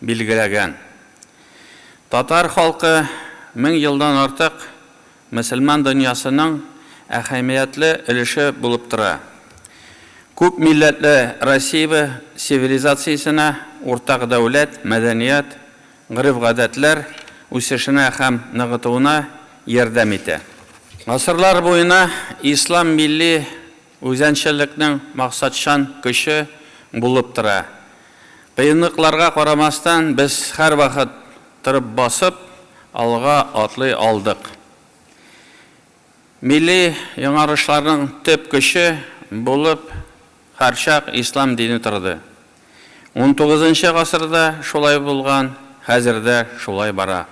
билгеләгән. Татар халкы мең елдан артык мөселман дөньясының әһәмиятле өлеше булып тора. Күп милләтле Россиябе цивилизациясенә, уртак дәүләт, мәдәният, гореф-гадәтләр үсешенә һәм ныгытуына ярдәм итә. Гасырлар буена ислам милли Үзәнчелекнең максатчан көче булып тора. Кыенлыкларга карамастан, без һәрвакыт торып басып, алга атлый алдык. Милли яңарышларның төп көче булып һәрчак ислам дине торды. Унтугызынчы гасырда шулай булган, хәзер дә шулай бара.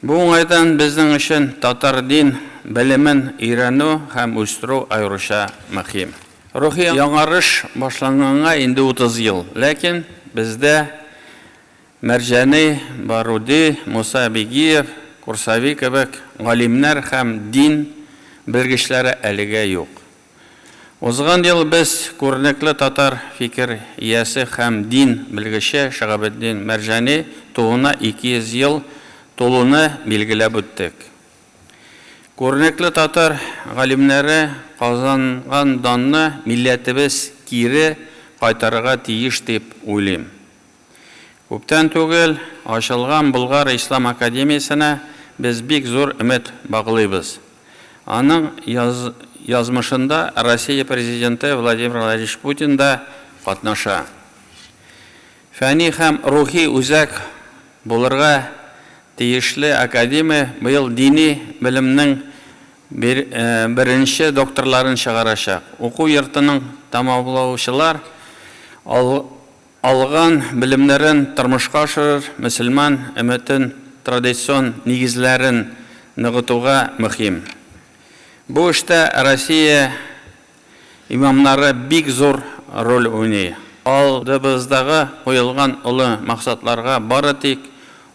Бу уңайдан безнең өчен татар дин белемен өйрәнү һәм үстерү аеруча мөһим. Рухи яңарыш башланганга инде 30 ел, ләкин бездә Мәрҗани, Баруди, Муса Бигиев, Курсави кебек галимнәр һәм дин белгечләре әлегә юк. Узган ел без күренекле татар фикер иясе һәм дин белгече Шаһабетдин Мәрҗани тууына 200 ел тулуны билгеләп үттек. Күренекле татар галимнәре казанган данны милләтебез кире кайтарырга тиеш дип уйлыйм. Күптән түгел ачылган Болгар ислам академиясенә без бик зур өмет баглыйбыз. Аның язмышында Россия Президенты Владимир Владимирович Путин да катнаша. Фәни һәм рухи үзәк булырга тиешле академия быел дини белемнең беренче докторларын чыгарачак. Уку йортының тәмамлаучылар Алган белемнәрен тормышка ашырыр, мөселман өмәтен традицион нигезләрен ныгытуга мөхим. Бу эштә Россия имамнары бик зур роль уйный. Алдыбыздагы куелган олы максатларга бары тик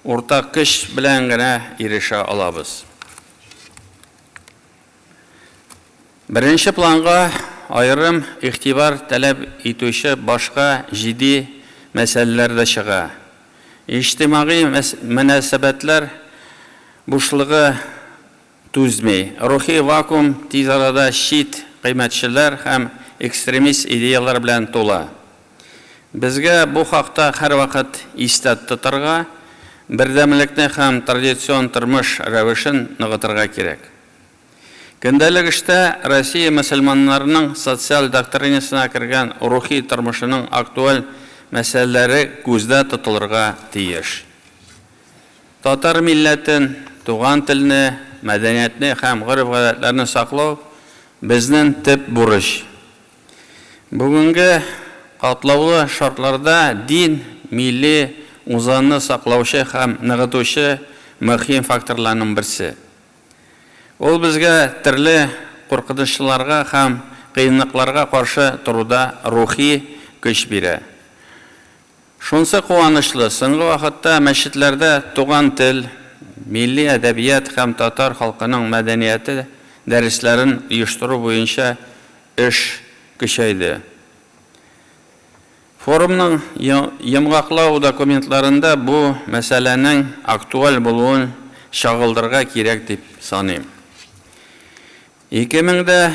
уртак көч белән генә ирешә алабыз. Беренче планга аерым игътибар таләп итүче башка җиди мәсьәләләр дә чыга. Иҗтимагый мөнәсәбәтләр бушлыгы түзми, рухи вакуум тиз арада чит кыйммәтчеләр һәм экстремист идеяләр белән тула. Безгә бу хакта һәрвакыт истә тотарга, бердәмлекне һәм традицион тормыш рәвешен ныгытырга кирәк. Көндәлек эштә Россия мөселманнарының социаль доктринасына кергән рухи тормышының актуаль мәсьәләләре күздә тотылырга тиеш. Татар милләтен, туган телне, мәдәниятне һәм гореф-гадәтләрне саклау, безнен төп бурыч. Бүгенге катлаулы шартларда дин, милли узанны саклаучы һәм ныгытучы мөһим факторларның берсе. Ул безгә төрле куркынычларга һәм кыенлыкларга каршы торуда рухи көч бирә. Шунсы куанычлы, соңгы вакытта мәчетләрдә туган тел, милли әдәбият һәм татар халкының мәдәнияте дәресләрен оештыру буенча эш көчәйде. Форумның йомгаклау документларында бу мәсьәләнең актуаль булуын чагылдырырга кирәк дип саныйм. Ике мең дә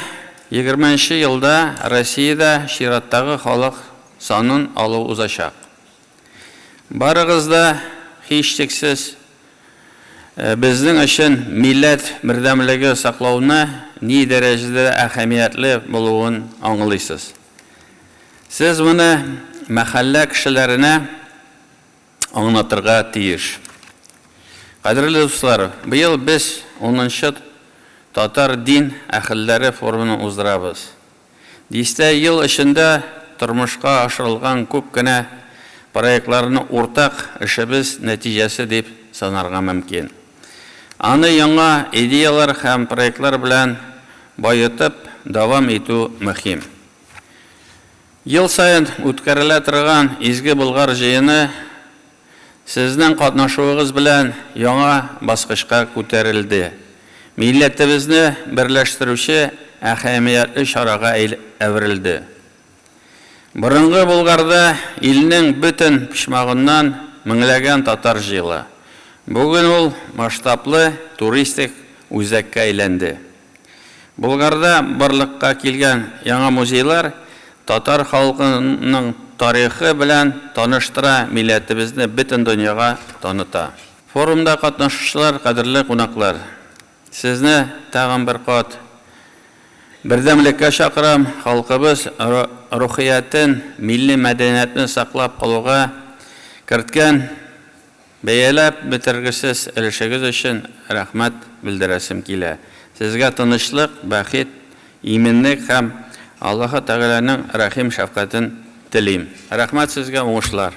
егерме нче елда Россиядә чираттагы халык санын алу узачак. Барыгыз да, һичшиксез, безнең өчен милләт бердәмлеге саклауны ни дәрәҗәдә әһәмиятле булуын аңлыйсыз. Сез моны мәхәллә кешеләренә, аңлатырга тиеш. Кадерле дуслар, быел без унынчы Татар дин әһелләре форумын уздырабыз. Дистә ел эчендә тормышка ашырылган күп кенә проектларны уртак эшебез нәтиҗәсе дип санарга мөмкин. Аны яңа идеяләр һәм проектлар белән баетып дәвам итү мөһим. Ел саен үткәрелә торган Изге Болгар җыены сезнең катнашуыгыз белән яңа баскычка күтәрелде, милләтебезне берләштерүче әһәмиятле чарага әверелде. Борынгы Болгарда илнең бөтен почмагыннан меңләгән татар җыела. Бүген ул масштаблы туристик үзәккә әйләнде. Болгарда барлыкка килгән яңа музейлар татар халкының тарихы белән таныштыра, милләтебезне бөтен дөньяга таныта. Форумда катнашучылар, кадерле кунаклар! Сезне тагын бер кат бердәмлеккә чакырам, халкыбыз рухиятен, милли мәдәниятне саклап калуга керткән, Бәяләп бетергесез өлешегез өчен рәхмәт белдерәсем килә. Сезгә тынычлык, бәхет, иминлек һәм Аллаһы Тәгаләнең рәхим шәфкатен телим. Рәхмәт сезгә, уңышлар!